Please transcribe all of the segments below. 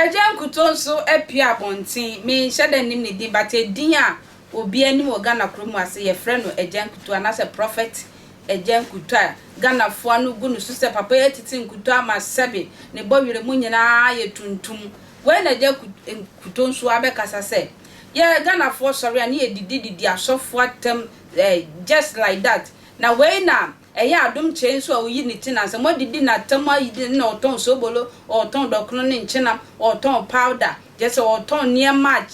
Agya Nkuto nso apue abɔnten. Menhyɛ da nnim ne din but edin a obiara nim wɔ Ghana kuro mu ase, yɛfrɛ no Agya Nkuto anaasɛ Prophet Agya Nkuto a Ghanafoɔ ano gu no so sɛ papa yi atete nkuto ama sɛbe ne bɔwerɛ mu nyinaa yɛ tuntum. Wei na Agya Kuto nso abɛkasa sɛ yɛ Ghanafoɔ sɔre a ne yɛ didi didi asɔfoɔ atɛm eh just like that na wei na ɛyɛ Adom Kyɛe nso a ɔyi ne ti na sɛ mo adidi na atɛm ayi ne na ɔtɔn sobolo ɔtɔn dɔkono ne nkyenam ɔtɔn powder kyerɛ sɛ ɔtɔn nneɛma a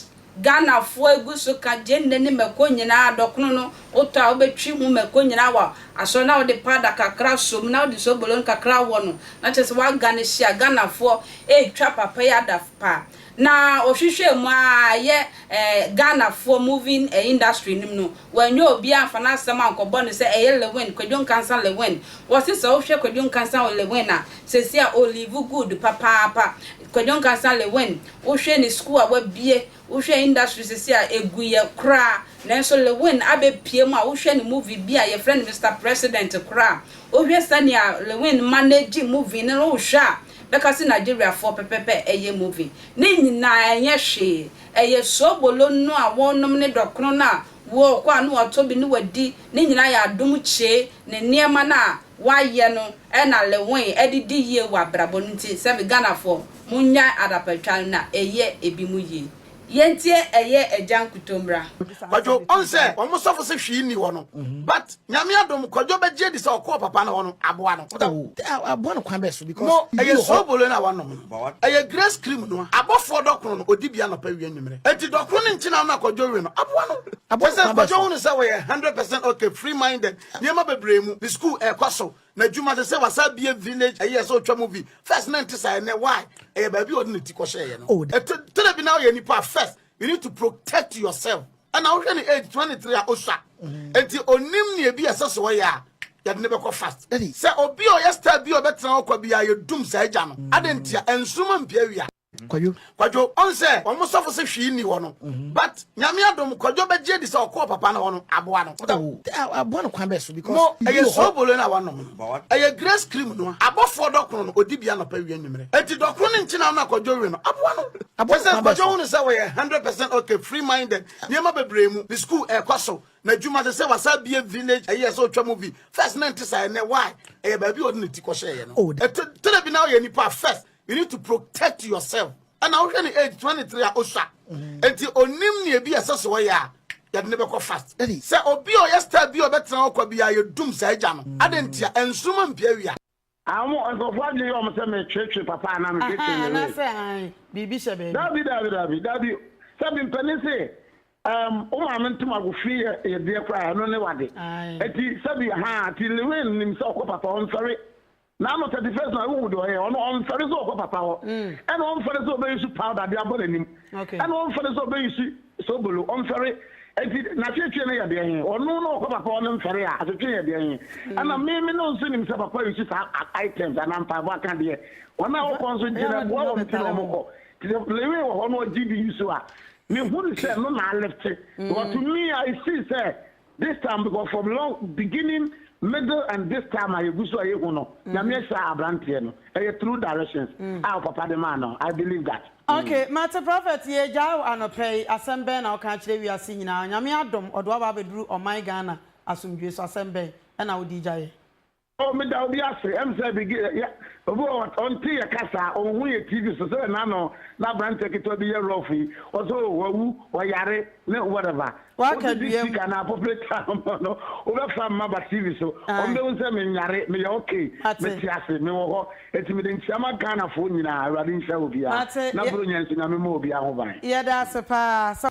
Ghanafoɔ egu so ka gyeene ne mako nyinaa, dɔkono no wotɔ a wobɛtwi ho mako nyinaa wɔ asɔ na wode powder kakra asɔ mu na wode sobolo no kakra awɔ no na kyerɛ sɛ woaga no hye a Ghanafoɔ retwa papa yi adaf paa na ɔhwehwɛɛ mu ara ɛyɛ eh Ghanafoɔ moving eh industry no mu no Wɔannya obiara amfa n'asɛm ankɔbɔ no sɛ ɛyɛ Lewin, Kwadwo Nkansah Lewin. Wɔse sɛ wohwɛ Kwadwo Nkansah Lewin a, seesei a ɔliivu good papaapa. Kwadwo Nkansah Lewin, wohwɛ ne sukuu a wabue, wohwɛ industry seesei a, ɛguiɛ koraa. Nanso Lewin abɛpue mu a, wohwɛ ne movie bi a yɛfrɛ no Mister President koraa a, wohwɛ sɛnea Lewin manage movie no, wohwɛ a, bɛka se Nigeriafoɔ pɛpɛpɛ ɛyɛ movie. Ne nyinaa ɛnyɛ hwee. Ɛyɛ soobolo no a wɔnom ne dɔkono no a wɔkɔ a na wɔatɔ bi ne wɔadi, ne nyinaa yɛ adom kyee ne nneɛma no a wɔayɛ no na Lewin de di yie wɔ abrabɔ no nti sɛ me Ghanafoɔ monnyae adapatwa no na ɛyɛ ebi mo yie. Yɛntie ɛyɛ agya nkuto mmra. Kwadwo ɔn sɛ ɔmo sɔfo se hwee nni hɔ no but. Nyame adom kwadwo bɛgye adi sɛ ɔkɔɔ papa no hɔ no aboa no. Oh, aboa no kwan bɛɛ so because. Mo, ɛyɛ soobolo na wanom no, but what? Ɛyɛ grace cream no a abɔfoɔ dɔkono no ɔdi bi anɔpa wia nwumerɛ. Enti dɔkono ne nkyenam no a kwadwo we no aboa no. Kyerɛ sɛ kwadwo hunu sɛ wɔyɛ 100 percent okay, free minded, nneɛma bebree mu, ne school ɛɛkɔ so, n'adwuma sɛsɛ wasa abie village ɛyi ɛsɛ ɔtwa mu vi. First na ɛnte saa ɛnɛ why? Ɛyɛ baabi a ɔde ne ti kɔhyɛɛyɛ no. Ɛtɔ da bi na woyɛ nipa a first you need to protect yourself. Ɛna wohwɛ ne age twenty three a osua mm-hmm. nti onim nea ebi ɛsɛ so ɔyɛ a yɛde ne bɛkɔ fast sɛ obi a ɔyɛ star bi a ɔbɛtena hɔ kwa bi a yɛdum saa agya no mm. ade ntia nsoroma mpia wia kwadwo kwadwo ɔn sɛ wɔn sɔfo sɛ hwii ni hɔ no mhm. but nyame adom kwadwo bɛgye di sɛ ɔkɔɔ papa no hɔ no aboa no oh, aboa no kwan bɛɛ so because mo ɛyɛ sobolo na wɔnom Ɛyɛ Grace Cream no a abɔfoɔ dɔkono no ɔdi bi anɔpa awia anwummerɛ. Enti dɔkono no nti na wo na Kwadwo we no aboa no. Kyerɛ sɛ Kwadwo hunu sɛ ɔyɛ hundred percent ok, free minded, nneɛma bebree mu, ne school ɛrekɔ so, n'adwuma, sɛsɛ wasan abue village ayi ɛsɛ ɔtwa movie. First na ɛnte saa ɛnnɛ why? Ɛyɛ baabi a ɔde ne ti kɔhyɛeɛ no. Ɛtɔ da bi na woyɛ nipa a first you need to protect yourself. Ɛna wohwɛ ne age twenty three a osua mm. nti onim nea ebi ɛsɛ so ɔyɛ a yɛde ne bɛkɔ fast sɛ obi a ɔyɛ star bi a ɔbɛtena hɔ kwa bi a yɛdum saa agya no mm. adɛn ntia ɛnsoroma mpia wia àwọn ah, nkurɔfoɔ adwene yɛ wɔn sɛ metwetwe papa anaa metwetwe ne wei anaasɛ an biribi hyɛ baabi dabi dabi dabi dabi sɛbi mpanin se ɛɛm o maame ntoma agofi yɛ yɛ deɛ koraa ɛno ne wade eti sɛbi ha ti lewin nim sɛ ɔkɔ papa ɔnsɔre N'ano thirty first na wohu deɛ ɔyɛ ɔno ɔmfɛre sɛ ɔkɔ papa hɔ ɛna ɔmfɛre sɛ ɔbɛyusu powder de abɔ n'anim ɛna ɔmfɛre sɛ ɔbɛyusu sobolo ɔmfɛre eti n'atwetwe no yɛ deɛ he ɔno na ɔkɔ papa hɔ no mfɛre a atwetwe yɛ deɛ he ɛna me me no nso nim sɛ papa yusu saa items anaa mpaebɔ aka deɛ wɔn a wɔkɔ nso gye na boa wɔn ti na wɔn kɔ te sɛ lewe wɔ hɔ no ɔgye di yusu a mehunu sɛ no na alifte wɔto mi a esi sɛ this time because from long beginning middle and this time a yɛgu so a yɛhu no mm-hmm. nyame ahyira aberanteɛ no ɛyɛ through directions mm. a papa de maa no i believe that okay mm. mate prophet yɛgyae wo anɔpɛ yi asɛm bɛn na woka kyerɛ wiase nyinaa nyame adom ɔde waba abɛduru ɔman ghana asomdwoe so asɛm bɛn ɛna wode gyaeɛ Oh meda obi ase ɛm sɛ Abigail yɛ obi wɔ hɔ ɔnte yɛ kasa ɔnhu yɛ TV so sɛdɛ na no na abranteɛ ketewa bi yɛ rough yi ɔsɛ oh wawu ɔyare ne whatever Waka wogye di dua mu. sika na apopere ta ama no wobɛfa mma ba TV so ɔmo Ae. bɛhu sɛ menyare meyɛ okay Mate. mete ase me wɔ hɔ enti mede nkyia ma Ghana foɔ nyinaa Awurade nhyira obiara Mate. na Yɛ- Buronya nso Nyame mma obiara ho ban. Yɛda ase paa. Sɛ.